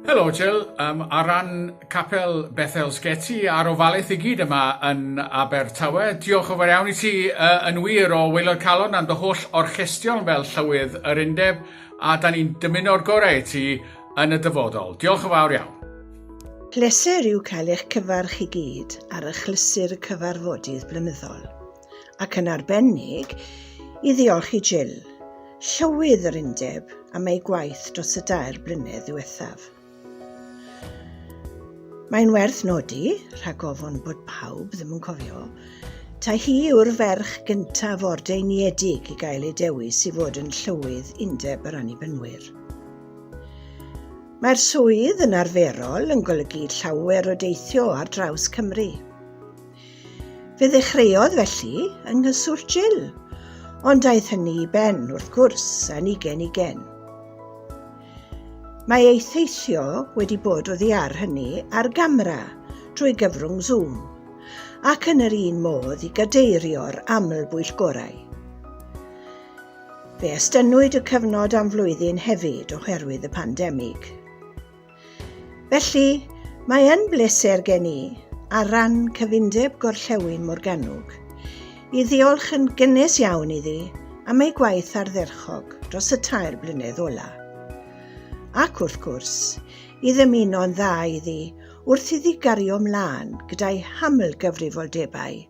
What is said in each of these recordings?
Helo Jill, um, ar ran Capel Bethel Sgeti a'r ofalaeth i gyd yma yn Abertawe, diolch o fawr iawn i ti uh, yn wir o Weilod Calon am dy holl orchestion fel llywydd yr undeb a da ni'n dymuno'r gorau i ti yn y dyfodol. Diolch o fawr iawn. Pleser yw cael eich cyfarch i gyd ar achlysur y cyfarfodydd blynyddol, ac yn arbennig i ddiolch i Jill, Llywydd yr Undeb, am ei gwaith dros y dair blynedd ddiwethaf. Mae'n werth nodi, rhag ofon bod pawb ddim yn cofio, Ta hi yw'r ferch gyntaf o'r deiniedig i gael ei dewis i fod yn llywydd Undeb yr Annibynwyr. Mae'r swydd yn arferol yn golygu llawer o deithio ar draws Cymru. Fe ddechreuodd felly yng nghyswllt Jill, ond daeth hynny i ben, wrth gwrs, yn ugen ugen. Mae ei theithio wedi bod o ddiar hynny ar gamera drwy gyfrwng Zoom, ac yn yr un modd i gadeirio'r aml bwyllgorau. Fe estynnwyd y cyfnod am flwyddyn hefyd oherwydd y pandemig. Felly, mae yn bleser gen i, ar ran cyfundeb Gorllewin Morgannwg, i ddiolch yn gynnes iawn iddi am ei gwaith ardderchog dros y tair blynedd ola. Ac wrth gwrs, i ddymuno'n dda iddi wrth iddi gario mlaen gyda'i haml gyfrifoldebau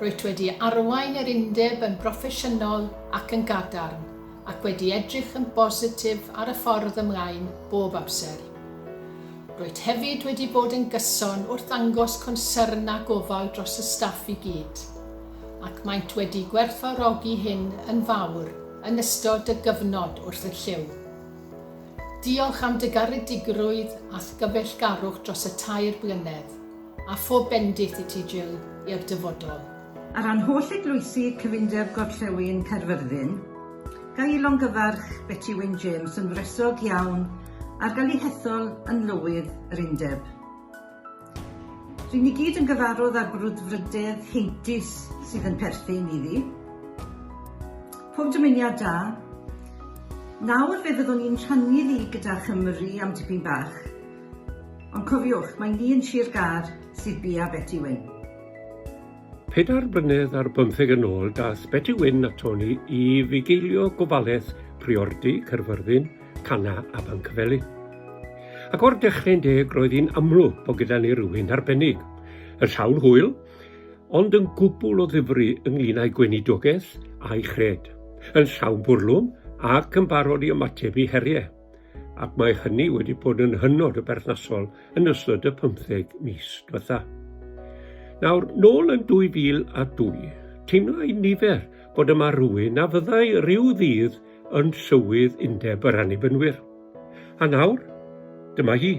Rwyt wedi arwain yr Undeb yn broffesiynol ac yn gadarn, ac wedi edrych yn bositif ar y ffordd ymlaen bob amser. Rwyt hefyd wedi bod yn gyson wrth ddangos concern a gofal dros y staff i gyd, ac maent wedi gwerthfawrogi hyn yn fawr yn ystod dy gyfnod wrth y llyw. Diolch am dy garedigrwydd a'th gyfeillgarwch dros y tair blynedd. A phob bendith i ti Jill i'r dyfodol. Ar ran holl eglwysi cyfundeb Gorllewin Caerfyrddin, ga i longyfarch Beti Wyn James yn wresog iawn ar gael ei hethol yn Lywydd yr Undeb. Ry'n ni gyd yn gyfarwdd â'r brwdfrydedd heintus sydd yn perthyn iddi. Pob dymuniad da. Nawr fe fyddwn i'n rhannu ddi gyda Chymru am dipyn bach Ond cofiwch, mae ni yn Sir Gâr sydd bia Beti Wyn. Pedair blynedd ar bymtheg yn ôl daeth Beti Wyn aton ni i fugeilio gofalaeth Priordy, Caerfyrddin, Cana a Bancfelin. Ac o'r dechrau'n deg roedd hi'n amlwg bod gyda ni rywun arbennig, yn llawn hwyl, ond yn gwbl o ddifri ynglyn â'i gweinidogaeth a'i chred, yn llawn bwrlwm ac yn barod i ymateb i heriau. ac mae hynny wedi bod yn hynod o berthnasol yn ystod y 15 mis diwetha. Nawr, nôl yn 2002, teimla i nifer bod yma rhywun a fyddai rhyw ddydd yn llywydd undeb yr annibynwyr. A nawr, dyma hi.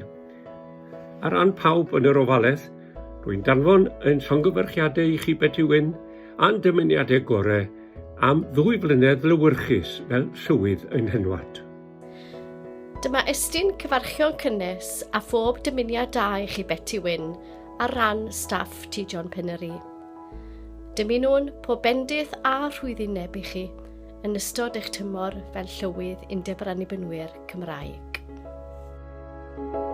Ar ran pawb yn yr ofaledd, rwy'n danfon ein llongyfarchiadau i chi Betty Wyn a'n dymuniadau gorau am ddwy flynedd lywyrchus fel llywydd ein henwad. Dyma estyn cyfarchion cynnes a phob dymuniad da i chi Betty Wyn ar ran staff T John Pennery. Dymunwn pob bendith a rhwyddineb i chi yn ystod eich tymor fel llywydd Undeb yr Annibynwyr Cymraeg. Thank you.